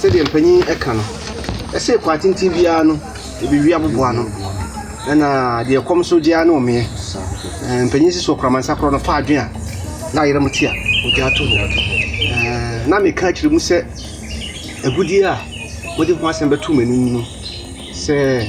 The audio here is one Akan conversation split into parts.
Sɛdeɛ mpanin ka no, ɛse kwa tenten biara no ɛbɛwi aboboa ano, ɛna deɛ ɛkɔm nso gye ara ne ɔmeɛ. Ɛɛ, Mpanin si so ɔkraman sakorɔ no fa adwen a na ayera mu te a, ɔgyaa to hɔ. Ɛɛ, Na meka akyerɛ mu sɛ, agudeɛ a mode ho asɛm bɛto m'anim no, sɛ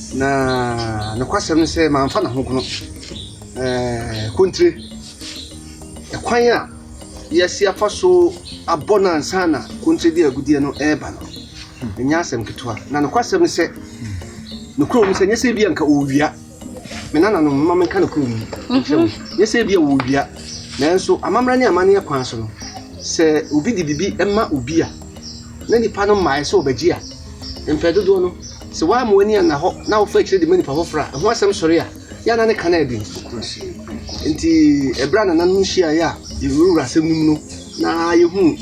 Na nokwasɛm ne sɛ mamfa n'ahogono kontire ɛkwan a yɛasi afa so abɔ no ansa na kontire de agudeɛ no reba no. Ɛnyɛ asɛm ketewa. Na nokwasɛm ne sɛ, nokorɛ mu sɛ, nyɛ sɛ bi a nka ɔrewia me nananom mma menka nokorɛ mu nkyerɛ wo. Mhm. Nyɛ sɛ bi a ɔrewia, nanso amammerɛ ne amanneɛ kwan so no, sɛ obi de biribi ma obi a, na nipa no mmaeɛ sɛ ɔbɛgye a, mpɛn dodoɔ no Sɛ woamma w'ani anna hɔ na wofa akyiri de ma nnipa foforo a, ɛho asɛm sɔre a, yɛ a na ne ka no ayɛ den. Enti, bere a nananom hyiae a yɛrewurawura asɛm no mu no, na yehuu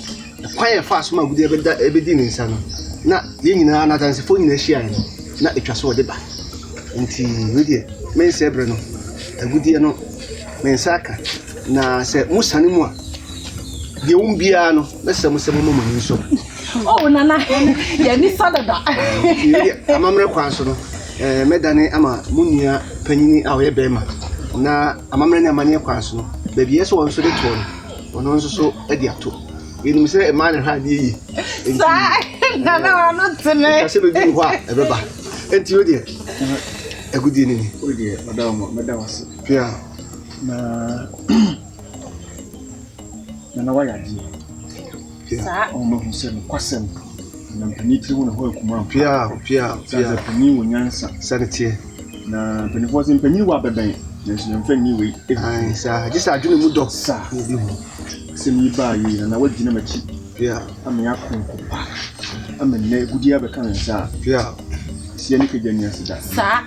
kwan a ɛfaa so ma agude bɛda ebedii ne nsa no. Ná yɛn nyinaa, na Adansefo nyinaa hyiae no, na etwa sɛ wɔde ba. Enti, wei deɛ, merensɛe bere no, agude no, me nsa aka, na sɛ mosiane mu a, deɛ ɛwom biara no, mɛsrɛ mo sɛ momma mo ani nsɔ mu. Oh, Nana, yɛn ni sa dada. Amammerɛ kwan so no, eh, mɛdane ama mo nua panyini a ɔyɛ bɛrima na amammerɛ ne amanneɛ kwan so no, baabi ɛsɛ wɔn nso de toɔ no, ɔno nso so de ato. Yɛnim sɛ mmaa ne hwɛ adeɛ yie. Saa, Nana, ɔno tene. Ɛka sɛ bɛduru hɔ a, ɛbɛba. Enti wo deɛ, agodie no ni. Wo deɛ, ɔda wo mɔ, mɛda wo ase. Pia. Na, Nana, woayɛ adeɛ. Saa. Wɔn bɛhu sɛ nokwasɛm na mpanin tiri ho ne hɔ akuma ampa. Pia pia pia. Sɛ mpanin wɔ nyansa. Sɛne teɛ. Na mpanimfoɔ sɛ mpanin wɔ abɛbɛn nanso yɛmfa nni wei. Ae saa gye sɛ adwene mu dɔ. Saa. Na ebi hu. Asɛm yi baa yei na na wagyina m'akyi. Pia. Ama yɛ akonko pa. Ama nnɛ agudie abɛka ne nsa a. Pia. Aseɛ ne kagya ni ase da. Saa.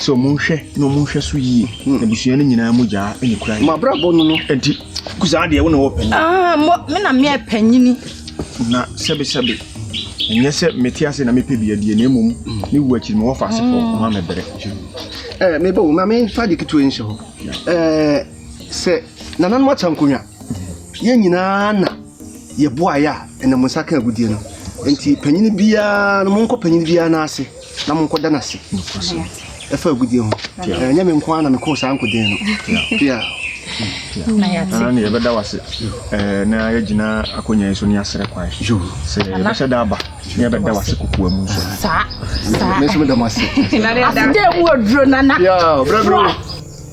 Sɛ ɔmo nhwɛ na ɔmo nhwɛ so yie hmm. abusua no nyinaa mu gyaa ɛne kura yɛ. mabrabɔ no no ɛnti kusaa deɛ wona wɔ panyin. Ah, mo me na meɛ panyini. na sɛbesɛbe ɛnyɛ sɛ mete ase na mepɛ bia deɛ na mmom ne wu akyiri me wɔfa asefoɔ hmm. ɔma mɛbrɛ. ɛɛ eh, mebɛ wo ma memfa de ketewa nhyɛ hɔ ɛɛ eh, sɛ nananom ata nkonnwa yɛn nyinaa na yɛboaeɛ a ɛnam nsa ka agudeɛ no nti panyini biara no monkɔ panyini biara no ase na monkɔda no ase ɛfa agudie ho ɛnyɛ me nko ara na mekɔɔ saa nkoden no pia ɛna ne yɛbɛda wo ase na yɛgyina akonnwa yi so ne yɛasrɛ kwan sɛ yɛbɛhyɛ da aba ne yɛbɛda wo ase kokoa mu nso saa saa mɛsɛ meda mo ase aseda mu aduro nana brɛbrɛ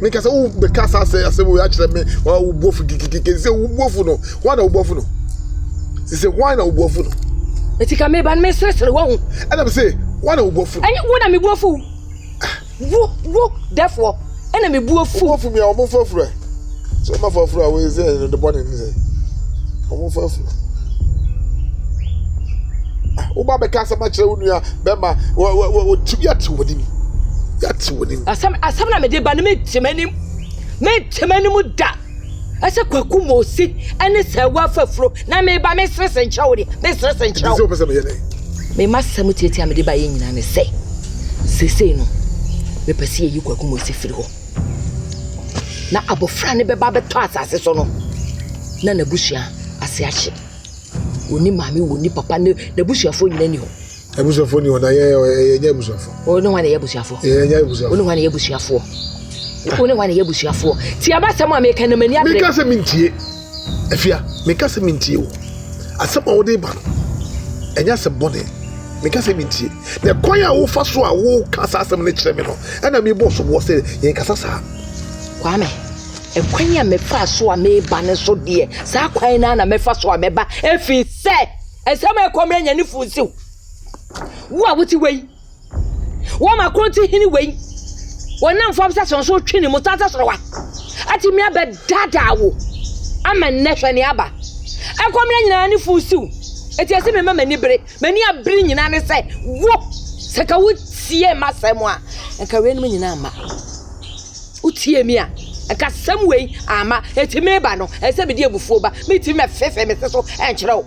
me kasa wo be kasa sɛ asɛ wo akyerɛ me wo bofu kikikiki sɛ wo bofu no ho na wo bofu no sɛ ho na wo bofu no eti ka me ban me sresere wo ho ɛna me se wo na wo bofu no ɛnyɛ wo na me bofu wo wo defoɔ ɛna me bofu bofu me a wɔn foforo Sɛ ɔma fa furu a wɔyɛ sɛ ɛyɛ de bɔne ne sɛ ɔmo fa furu. Ah, wo ba bɛka asɛm akyerɛ wo nua bɛma wɔtu yɛte wɔ nim yɛte wɔ nim. Asɛm asɛm na mede ba no mentwem anim mentwem anim da ɛsɛ kwaku ma osi ɛne sɛ ɛwɔ afafuro na meba meserese nkyerɛ wo de meserese nkyerɛ wo. Ɛdi sɛ ɔpɛ sɛ meyɛ dɛ. Mema sɛm tiatia mede ba yɛ nyinaa ne sɛ sesei no mepɛ sɛ yɛyi kwaku ma osi firi hɔ. Na abofra no bɛba abɛtɔ asase so no, na n'abusua ase ahye. Onni maame, onni papa, ne n'abusuafo nyinaa ni hɔ. Abusuafo ni hɔ na yɛn yɛn yɛ abusuafo. Wɔn ne wɔn na yɛ abusuafo. Yɛn yɛ abusuafo. Wɔn ne wɔn na yɛ abusuafo. Wɔn ne wɔn na yɛ abusuafo. Ti abasɛm a meka na m'ani abere. Meka sɛ mentie. Afia, meka sɛ mentie wo. Asɛm a wode ba no, ɛnyɛ asɛm bɔne. Meka sɛ mentie. Na kwan a wofa so a woka saa asɛm no kyerɛ me no, ɛna mebɔ soboɔ sɛ yɛnkasa saa. Kwame, ɛkwan a mefaa so a meba no so deɛ, saa kwan no ara na mɛfa so a mɛba, ɛfiri sɛ ɛsɛ mɛkɔ mɛnya ne funsiw. Wo a wote wei. Wɔn a kronti hene wei, wɔnam fam sɛ sɔn so twe ne mu san sɛ sorowa, atumi abɛdaadaa wo ama nnɛ hwɛ nea aba. Ɛkɔmmerɛ nyinaa ne fuu siw, enti ɛse mema m'ani bere, m'ani abere nyinaa ne sɛ wo, sɛ nka wotiee m'asɛm a, nka weinom nyinaa amma. Wotiee me a, nka asɛm wei amma, enti meba no, ɛsɛ sɛ mede abufuo ba, mentumi mɛfefe me se so nkyerɛ wo.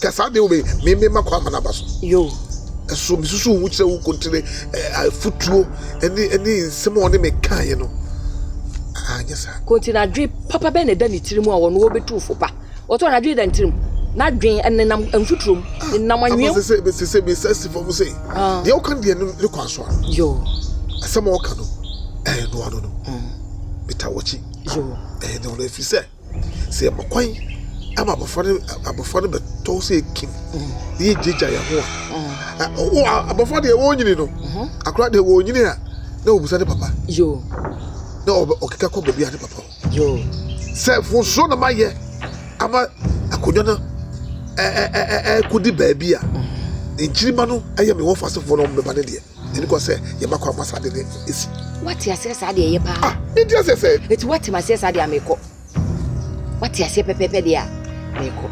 Ka saa de wo me me me ma kɔ ama n'aba so. Yo. Ɛso mesusu wo kyerɛ wo kontire afutuo ɛne ɛne nsɛm a ɔne me kaeɛ no anyɛ saa. Kontire adwe papa bɛn na ɛda ne tirim a ɔno ɔbɛtu fo pa? Ɔtɔ no adwe da ne tirim. N'adwen ɛnenam mfuturom, ɛnenam anwea mu. Ama sɛ sɛ sɛ sɛ me sɛ si fam sɛ deɛ ɔka deɛ no ne kwan so a. Yo. Asɛm a ɔka no ɛyɛ noa no no. Beta wɔkyi. Yo. Ɛyɛ noa no ɛfiri sɛ. Sɛ yɛma kwan ama abɔfra no abɔfra no bɛtɔ sɛ ekim na yɛgyagya yɛn ho a wo abɔfra deɛ wɔnyini no akora deɛ wɔnyini a na wɔbusa ne papa na ɔkeka kɔ baabi a ne papa sɛ fonsuo na mayɛ ama akonnwa no ɛkɔdi baabi a nkyirima no ɛyɛ me wɔfasefoɔ no ɔmbɛba ne deɛ Yɛde kɔ sɛ yɛbɛkɔ ama saa de no esi. Wate aseɛ saa deɛ ɛyɛ paa. Ah, medi aseɛ sɛ. Eti wate aseɛ saa deɛ a mekɔ. Wate aseɛ pɛpɛpɛ deɛ a mekɔ.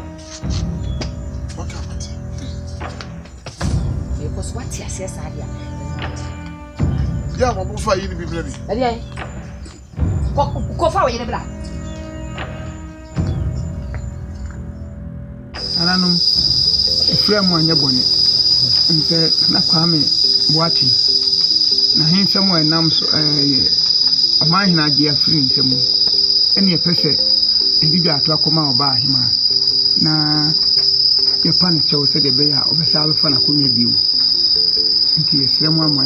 Waka wate. Mekɔ so wate aseɛ saa deɛ a. Yɛ a wɔn fa yi ni bi mìíràn bi. Ɛdeɛ. Kɔ kɔ fa wo yere bra. Nananom, efra mu anyɛ bɔne. Ɛne sɛ Nana Kwame Boateng n'ahensɛm a ɛnam so ɛyɛ Ɔmanhene agye afiri ne nsa mu ɛne ɛpɛ sɛ ɛdi dwa ato akɔma Ɔbaa Ahemaa na yɛpa no kyɛw sɛdeɛ ɛbɛyɛ a ɔbɛsan abɛfa n'akonnwa bio. Nti yɛsrɛ mo ama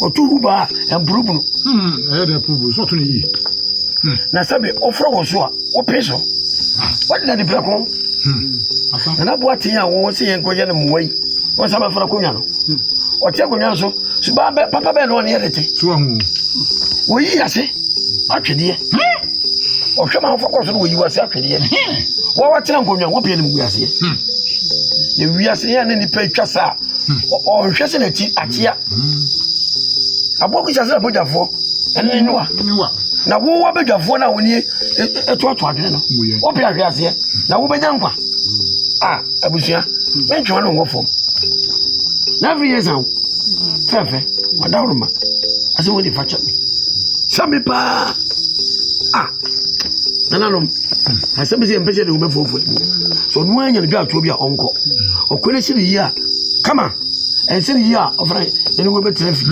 Ɔto gu baa ɛmporo bunu. Hmm, ɛyɛ dɛ ɛporo bunu so ɔto ne yie. Hmm. Na sɛbe ɔforo wɔ so a wope so. Ah. Wɔde na de prɛko. Hmm. Nana boa ten a wɔn se yɛn kɔyɛ no mmoa yi wɔn nsa bɛfra konwa no. Hmm. Ɔte akonnwa so so baa bɛ papa bɛɛ na ɔne yɛ de te. So ahu. Wɔyi ase atwedeɛ. Ɔhwɛ ma afɔkɔ so na wɔyi wase atwedeɛ. Wɔn wɔtena nkonnwa wɔpɛ ne mu wiaseɛ. Na wiase yɛn ne nipa atwa saa. ɔnhwɛ sɛ n'akyi akyea aboɔ bi hyɛ sɛ abɔgyafoɔ ɛne ne nuwa na wo abɛdwafoɔ no a wo nie ɛtoato adwene no wopɛ ahwe aseɛ na wobɛnya nkwa a abusua mentwewa no nwɔ fam na afei yɛ sa wo fɛfɛ wadaworo ma asɛ wode fa kyɛ me sɛ me paa a nananom asɛm bi sɛ yɛmpɛ sɛ ne wobɛ fofori mu sɛ ɔno ara nya ne dwaatoɔ bi a ɔnkɔ ɔkɔ no si ne yie a kama ɛnsɛ ne yie a ɔfra ne ne wobɛtena fi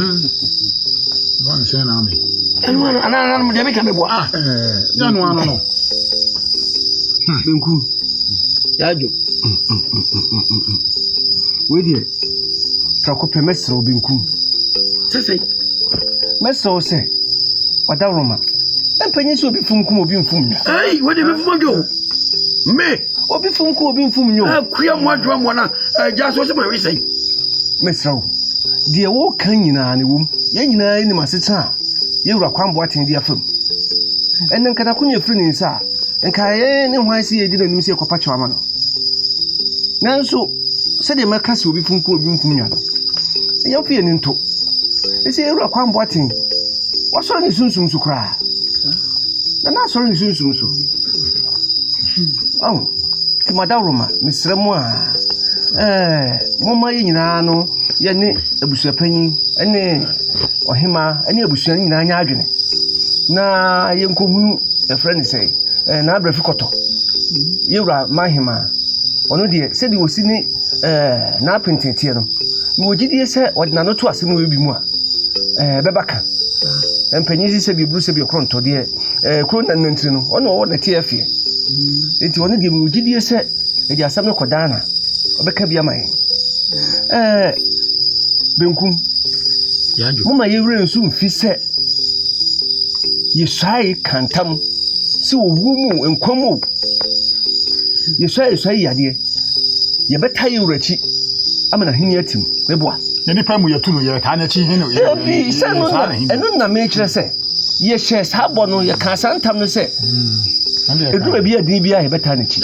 ɛno ano anananom deɛ meka meboa ah, yɛno ano no bɛnku yɛadwo wei deɛ Prɛko pɛ, mɛsrɛ wo, benkum. Sesei, mɛsrɛ wo sɛ, Ɔdawuroma, mpanyin sɛ obi fum kum obi mfum nyo. Ei, wode me fuma dwo. Me. Obi fum kum obi mfum nyo. Akua mu adwoa mu na agya so sɛ ma wi sɛn. Mɛsrɛ wo, deɛ woka nyinaa ne wom. Yɛn nyinaa nim asetena a yɛn wura Kwame Boateng de afam. Ɛnna nka n'akonya afiri ne nsa a, nka yɛn ne hwan sɛ yɛredi no anim sɛ yɛkɔpa kyɛw ama no. Nanso. Sɛdeɛ mɛka sɛ obi kunkum obi nkum nwa no, yɛmfa yɛn ani nto. Ɛsɛ yɛwura Kwame Boateng, wasɔre ne sunsum so koraa. Na na asɔre ne sunsum so. Ɔho, nti madaworoma, mesrɛ mo a, ɛɛ, momma yɛn nyinaa no, yɛne abusuapanyin ne ɔhemaa ne abusua no nyinaa nyɛ adwene na yɛnkɔhunu, yɛfrɛ ne sɛ, ɛɛ, n'abrɛfi kɔtɔ, yɛwura Mahema. ɔno deɛ sɛdeɛ ɔsi ne ɛɛ n'apentene teɛ no na wɔgye die sɛ ɔde n'ano to asɛm wɔ bi mu a ɛɛ bɛba ka mpanyin si sɛ bi eburu sɛ bi ɔkorɔ ntɔ deɛ ɛɛ kuro na nantiri no ɔna ɔwɔ na teɛ fie eti ɔno deɛ wɔgye die sɛ ɛde asɛm no kɔ daana ɔbɛka bi ama yɛn ɛɛ benkum mo ma yɛwura nsu mfi sɛ. Yesua yi ka ntam sɛ owuo mu o, nkwa mu o. Yesua yesua yi adeɛ. Yɛbɛta yi wura akyi ama n'ahenni atim. Meboa. Ne nipa mu yɛtu no yɛtaa n'akyi hene. Ebi sɛ no na ɛno na mekyerɛ sɛ yɛhyɛ saa bɔ no yɛka saa ntam no sɛ ɛdu baabi yɛ din biara yɛbɛtaa n'akyi.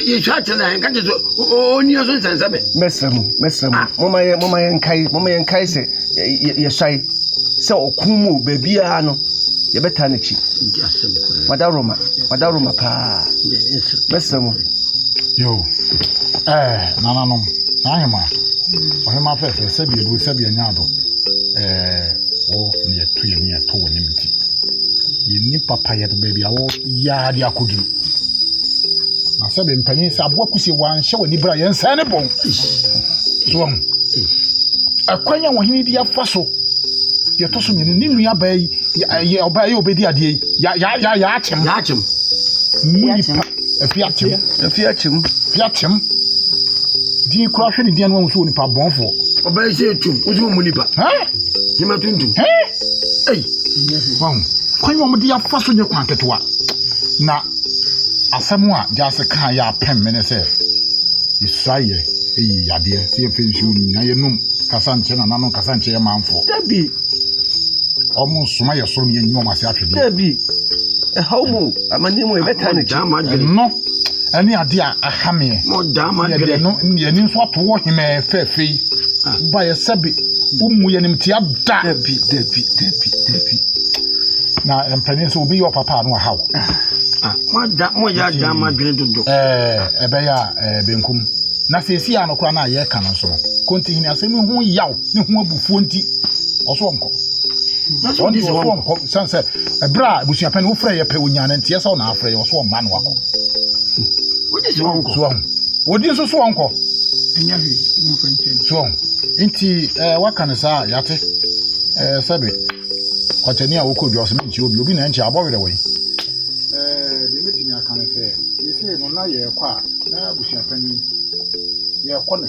Yesua akyerɛ na yɛnka kyerɛ sɛ ɔnni so nsɛnsɛmɛ. Mɛsrɛ mu mɛsrɛ mu moma yɛ moma yɛnkae moma yɛnkae sɛ yɛsae sɛ ɔko mu o baabiara no yɛbɛtaa n'akyi mada roma mada roma paa mɛsrɛ mo yo ɛɛ nananom n'ahema ɔhema fɛfɛ sɛbi ebu sɛbi anya ado ɛɛ wo ne yɛto yɛ ne yɛto wɔ ne mu ti yɛni papa yɛde baabi a wɔ Yaa de akoduru. Na sɛ bɛ mpanyin sɛ aboa kusie wanhyɛ w'ani bra yɛn sɛn ne bɔn. So wɔn. Ɛkwan a wɔhene di afa so. Deɛ ɛtɔ so mmienu ne nua baa yi yɛ ɔbaa yɛ ɔbɛdi adeɛ yi. Ya ya ya ya akyem. Ya akyem. Mu nipa afi akyem. Afi akyem. Afi akyem. Di kura hwɛ ne di anwa nso nipa bɔnfoɔ. Ɔbɛn sɛ etum. Osu mu nipa. Hɛn. Nyima tuntum. Hɛn. Ei, wahu, kwan a wɔde afa so nyɛ kwan ketewa. Na asɛm a Gyasi kaa yɛ apem me ne sɛ, yɛsua yɛ eyi yadeɛ sɛ yɛpɛ nsuo nom na yɛnom kasa nkyɛ na nano kasa nkyɛ yɛ manfoɔ. Dabi. Wɔn nsoma yɛ soro na yɛnyi wɔn ase atwedeɛ. Dabi. Ɛhaw mu, amanneɛ mu, yɛbɛtaa n'akyi. Ɛno. ɛne adeɛ a aha meɛ yɛdeɛ no yɛni nso ato wɔ hemɛɛ fɛɛfɛ yi ah. ba yɛ sɛbe womu yɛnimtia da dabi dabi dabi dabi na mpanin nso obi yɛ ɔpapa ano aha wo ah. ah, moyɛ adan ma dwene dodo ɛbɛyɛ a benkum na seesie a no koraa no a yɛka no nso no kɔntihini asɛm ho yaw ne ho abufuo nti ɔso ɔnkɔ nanso ɔnte sɛ ɔso ɔnkɔ san sɛ ɛberɛ a abusuapɛn no wofrɛ yɛ pɛ onya no nteɛ sɛ ɔna afrɛ yɛ ɔso ɔmma no wakɔ wodi so ɔnkɔ so ɔho wodi nso so ɔnkɔ ɛnyɛ hwee wɔmfa nkyɛn so ɔho nti ɛɛ eh, waka no saa yɛate ɛɛ eh, sɛbe kɔtɛni a wokɔ dwa ɔsɛ menkyi obi obi na ɛnkyɛ abɔ werɛ wɔ yi eh, deɛ mɛtumi aka no sɛ yɛsei no na yɛrekɔ a na abusuapɛn yɛrekɔ no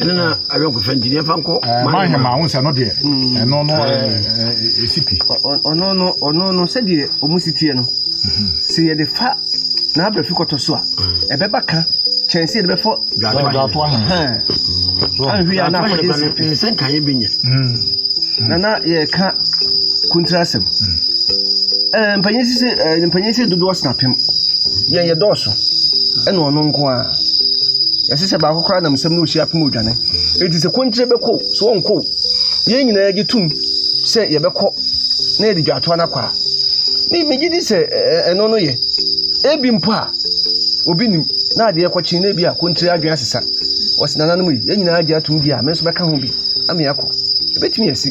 ɛno na ayɔnkofa nti ne ɛfa nkɔ mahema wo sɛ no deɛ ɛno no ɛsi pi ɔno no ɔno no sɛdeɛ ɔmu si teɛ no sɛ yɛde fa na abrɛfi kɔtɔ so a ɛbɛba ka kyɛn sɛ yɛde bɛfɔ dwatoa anhwe a na afɔde sɛ nkaeɛ bɛnya na na yɛka kontra asɛm mpanyɛ si sɛ dodoɔ sena pem yɛyɛ dɔɔso ɛna ɔno nko a yɛse sɛ baako koraa nam nsɛm no ɔsi apem odwane enti sɛ kɔnkyerɛ bɛkɔ sɛ ɔnkɔ yɛn nyinaa gye tom sɛ yɛbɛkɔ na yɛde dwatoa no akɔ a me megye di sɛ ɛno no yɛ ebi mpo a obi nim na adeɛ kɔkye na ebi a kɔnkyerɛ adwene asesa wɔsi nananom yi yɛn nyinaa gye atom di a me nso bɛka ho bi ame akɔ ebetumi asi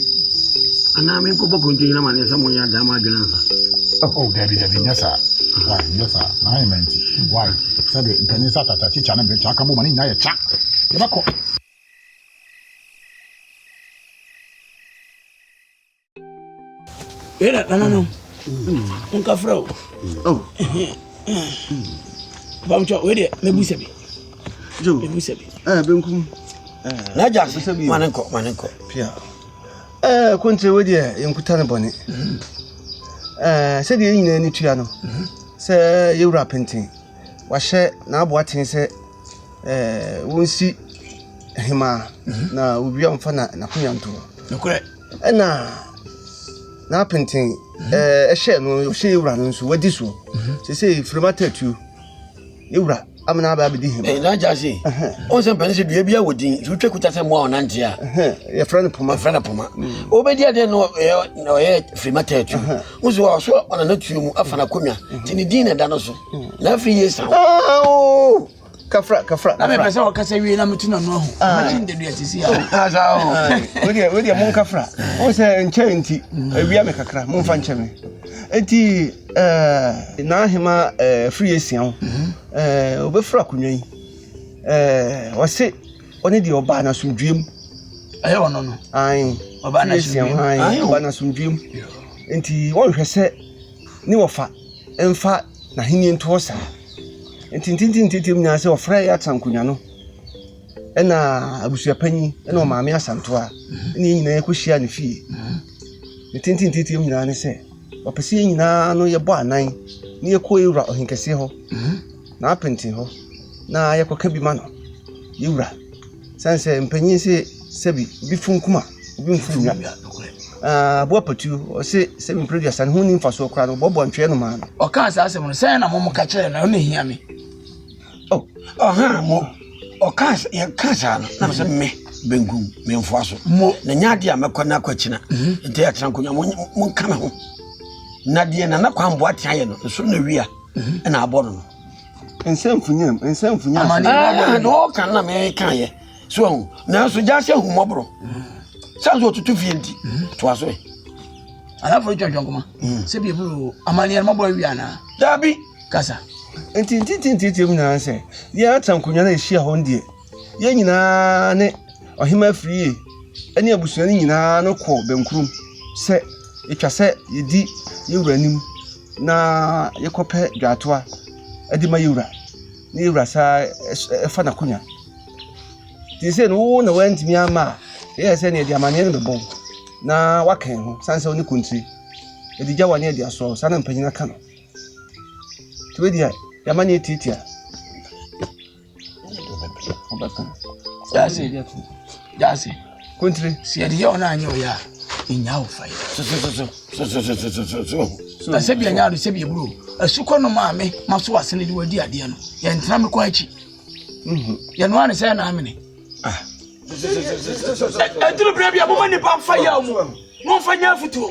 anaa me nkɔbɔ kɔnkyerɛ nyina ma ne nsɛm ɔnyɛ adaa ma adwene nsa oh dabi dabi nyɛ saa why nyɛ saa na ayɛ ma nti why Sɛdeɛ mpanyin nsa tata kikya ne mmerɛkyɛ aka bɔ ma ne nyinaa yɛ kya. Yɛbɛkɔ. Era nana no nka frɛ o bamtwa wei deɛ mɛbu sɛ bi mɛbu sɛ bi benkum n'agya ma ne nkɔ ma ne nkɔ Ɛɛ, akontae wei deɛ yɛnkuta no bɔne. Ɛɛ, sɛdeɛ yɛn nyinaa ani tua no sɛ yɛwura penten, wahyɛ n'aboa ten sɛ ɛɛ wɔnsi hemaa na owia mfa na n'akonya ntoɔ. Nokorɛ. Ɛna n'apenten ɛɛ ɛhyɛ no ɔhyɛ yɛwura no nso wadi soɔ. Sɛ sɛ firima tatuo. ne wura amena aba abɛdi him. Ɛyɛ n'agya ase. Wɔn sɛ mpɛn sɛ dua bi awɔ din nti wotwa kuta sɛ mmoa wɔn nante a. Yɛfrɛ no poma. Yɛfrɛ no poma. Mm. Wobɛdi adeɛ no ɔyɛ firima tɛɛtu. Wo so ɔso ɔna no tuo mu afa no akonnwa mm. nti ne din na ɛda no so. Mm. Na afei yɛ sa wo. Kafra kafra. Na mepɛ sɛ wɔkasa wie na metu na no ahu. Ah. Mɛkyi ndadua sisi a. Wodeɛ wodeɛ mo nkafra. Wo sɛ nkyɛn nti awia me kakra momfa nkyɛ me. Enti ɛɛ. N'aheman ɛɛ firi asia ho. Ɛɛ ɔbɛfiri akonnwa yi. Ɛɛ ɔse ɔne deɛ ɔbaa no asomdwoeɛ mu. Ɛyɛ ɔno no. Ae. Ɔbaa no asomdwoeɛ mu. Ae ɔbaa no asomdwoeɛ mu. Enti wɔnhwɛ sɛ ne wɔfa mfa n'ahenni ntoɔ saa. Enti ntintintintim nyinaa sɛ ɔfrɛ yɛ atsɛn akonnwa no. ɛna abusuapanyin ɛna ɔmaame asanto a ɛna yɛn nyinaa yɛkɔhyia ne fie ne tententeteɛ mu nyinaa ne sɛ ɔpɛ sɛ yɛn nyinaa no yɛbɔ anan na yɛkɔ yɛwura ɔhenkɛseɛ hɔ na apenten hɔ na yɛkɔka bi ma no yɛwura sane sɛ mpanyin sɛ sɛbi bi fo nkuma obi mfo nnwa aboa patuo ɔse sɛ mempere duasa ne ho ni mfasoɔ koraa no bɔbɔ ntweɛ no maa no ɔkaa saa asɛm no sɛ na mom ka kyerɛ na ɔne hia me Oh, ɔhaa mo. Ɔkaa sɛ, yɛkaa saa no, na sɛ me, benkum, memfoa so. Mo. Na nyɛ adeɛ a mɛkɔ na akɔ akyina. Mhm. Nti yɛatena nkonnwa, mo- monka me ho. Na deɛ Nana Kwambo atea yɛ no, nso na wia mhm. ɛna abɔ no no. Nsɛmfunyam, nsɛmfunyam. Amane na ah, ɔbɔ no. Ɔka na meka yɛ. So ahu, nanso gya sɛ ahummɔborɔ. Mhm. Sɛ nso ɔtutu fie nti, toa so ɛ. Alafoɔ atwa dwankoma. Sɛ bi ɛburu amaneɛ no mabɔ awia anaa? Daabi. kasa. Enti ntetee nteateam nyinaa ne sɛ, yɛn atra nkonnwa no a ehyia hɔ no deɛ, yɛn nyinaa ne ɔhemmaa firie ne abusua no nyinaa no kɔ bɛnkurom sɛ yɛtwa sɛ yɛdi yɛn wura anim na yɛkɔpɛ dwaatoa de ma yɛn wura, na yɛn wura saa fa n'akonnwa. Te sɛ no wo na wantumi ama a, ɛyɛ sɛ nea ɛde amanneɛ no bɛbɔ na waka ho, sane sɛ wo ne kontiri, ɛde gya wa ne ɛde asoa wo, saa na mpanyin aka no. nti wei deɛ yɛma ne yɛtiatia ɔbɛko yɛase yɛase kontire sɛ yɛde yɛ ɔno anyɛ ɔyɛ a ɛnya wo fa yɛ na sɛ bia nyaado sɛ bia buro asukɔ no maa me ma so ase no de wadi adeɛ no yɛntena me kɔ akyi yɛnoa ne sɛ ɛna amene ɛduru berɛ bia moma nnipa mfa yɛ mu momfa nya afotuo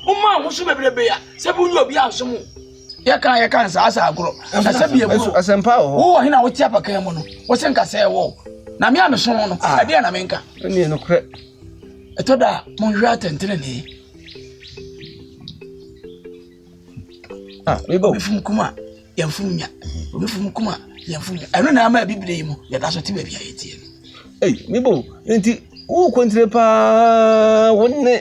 Woma ahosu bebrebe a sɛ bi wonyɛ obi a nsom wo. Yɛka yɛka nsa asa agorɔ. Ɛsɛ bi ɛburo. Asɛmpa wɔ hɔ. Wowɔ hena wote apakan mu no. Wose nka sɛ ɛwɔ. Na me a mesom no, ah. ɛdeɛ na menka. Ɛneɛ nokorɛ. Ɛtɔ da a monhwɛ atɛntenenee. Ah, mebɔ. Mefum kuma. yɛn funu nya obi funu kuma yɛn funu nya ɛno na ama ebi bere yi mu yɛda so te baabi a yɛteɛ no. ɛyi mebo nti wo kɔntire paa wo ne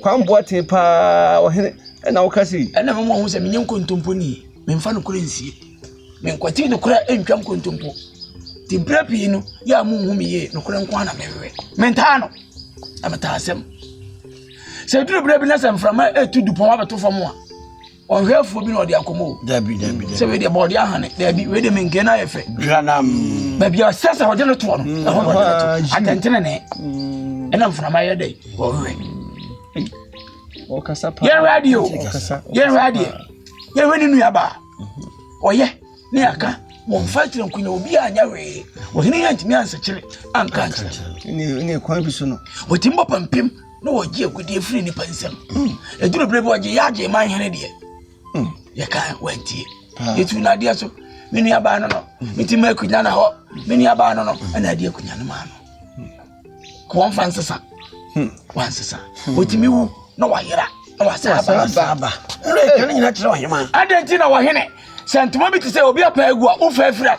kwamboa te paa ɔhene ɛna woka se yi. ɛna mama ɔho sɛ menyɛ nkontompo ni memfa nokorɛ nsie menkwati nokorɛ ntwa nkontompo nti berɛ pii no yɛ a monhu me yie nokorɛ nko a na mehwehwɛ mentaa no na metaa asɛm sɛ duru berɛ bi na sɛ mframa ɛtu dupɔn abɛto fam a ɔhwɛfoɔ bi na ɔde akɔmɔ o dabi dabi sɛ wei deɛ bɔɔde ahane dabi wei deɛ menkee no ayɛ fɛ dwanam baabi a sɛ sɛ ɔde no toɔ no mm. ɛhɔ na ɔde no to ah, atɛntene ne mm. ɛna mframa yɛ dɛ ɔhwɛ yɛhwɛ adeɛ o yɛhwɛ adeɛ yɛhwɛ ne nuabaa mm-hmm. ɔyɛ ne aka wɔn fa kyerɛ nkonya obi a anya wee wɔhene yɛ ntumi ansakyere anka nkyerɛ ne kwan bi so no wɔtumi bɔ pampem na wɔgye agudeɛ firi nnipa nsam ɛduru berɛ bi ɔgye yɛ agye ma nhene deɛ yɛka wantie yɛtu no adeɛ so me nuabaa no no meti ma akunya na hɔ me nuabaa no no ɛna adeɛ akunya no maa no ka wɔmfa nsesa wansesa ɔtumi wu na wayera na wasɛ aba ɛka no nyina kyerɛ ɔhema adɛn nti na wɔhene sɛ ntoma bi te sɛ obi apa agu a wofa afira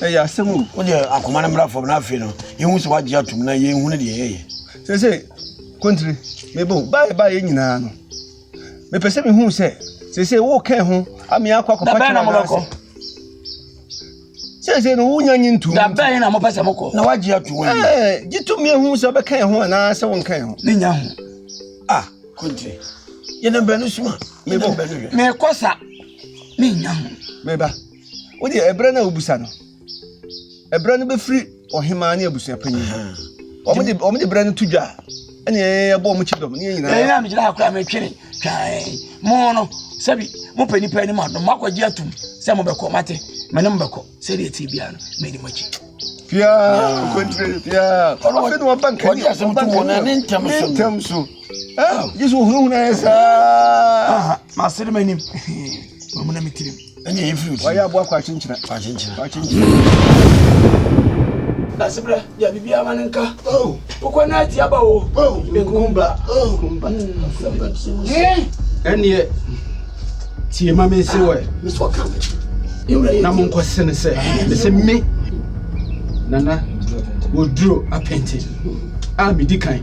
Ɛyɛ asɛm o, wo deɛ akoma no mmra fam na afei no yɛhu sɛ woagye atom na yɛhu no deɛ yɛyɛ. Sɛ sɛ kontiri mebɔ o, baayɛ baayɛ nyinaa no mepɛ sɛ mehu sɛ sɛ sɛ wokɛn ho amea akɔ akɔfa kyerɛ na mobɛkɔ sɛ sɛ no wonya nye ntom da bɛn na mopɛ sɛ mokɔ na woagye atom ɛɛ gye to mmea hu sɛ wobɛkɛn ho anaa sɛ wonkɛn ho ne nya ho ah kontiri yɛnam bɛno suma mebɔ mekɔ sa ne nya ho meba Wodeɛ ɛberɛ no a wobisa no, ɛberɛ no bɛfiri ɔhemaa ne abusua panyin hɔ. Wɔn de wɔn de berɛ no to dwa ɛne ɛbɔ wɔn kyi dɔm ne yɛn nyinaa. Ɛyɛ a megyina ha koraa metwene twan mo no sɛbi mopɛ nipa anim adom moakɔgye atom sɛ mobɛkɔ mate me ne mobɛkɔ sɛdeɛ ɛte biara no mɛni mo akyi fia kɔntire fia ɔno wɔn ba nkani wɔn ba nkani ne ntɛm so ne ntɛm so ɛɛ gye so hunahuna yɛ saa masere m'anim mamu na me tirim Ɛnyɛ yɛn firi Wɔayɛ aboa kɔ akyenkyena. Akyenkyena. Akyenkyena. Dasebrɛ deɛ biribiara ma no nka. Oh. Wokɔ na ati aba o. Oh. Nkumba. Oh. Nkumba. Ɛneɛ tie ma me se wɔ. Mesɛ ɔka me. Na mo nkɔ sene sɛ. Mesɛ me. Nana. Wɔduro apɛnte. A medi kan.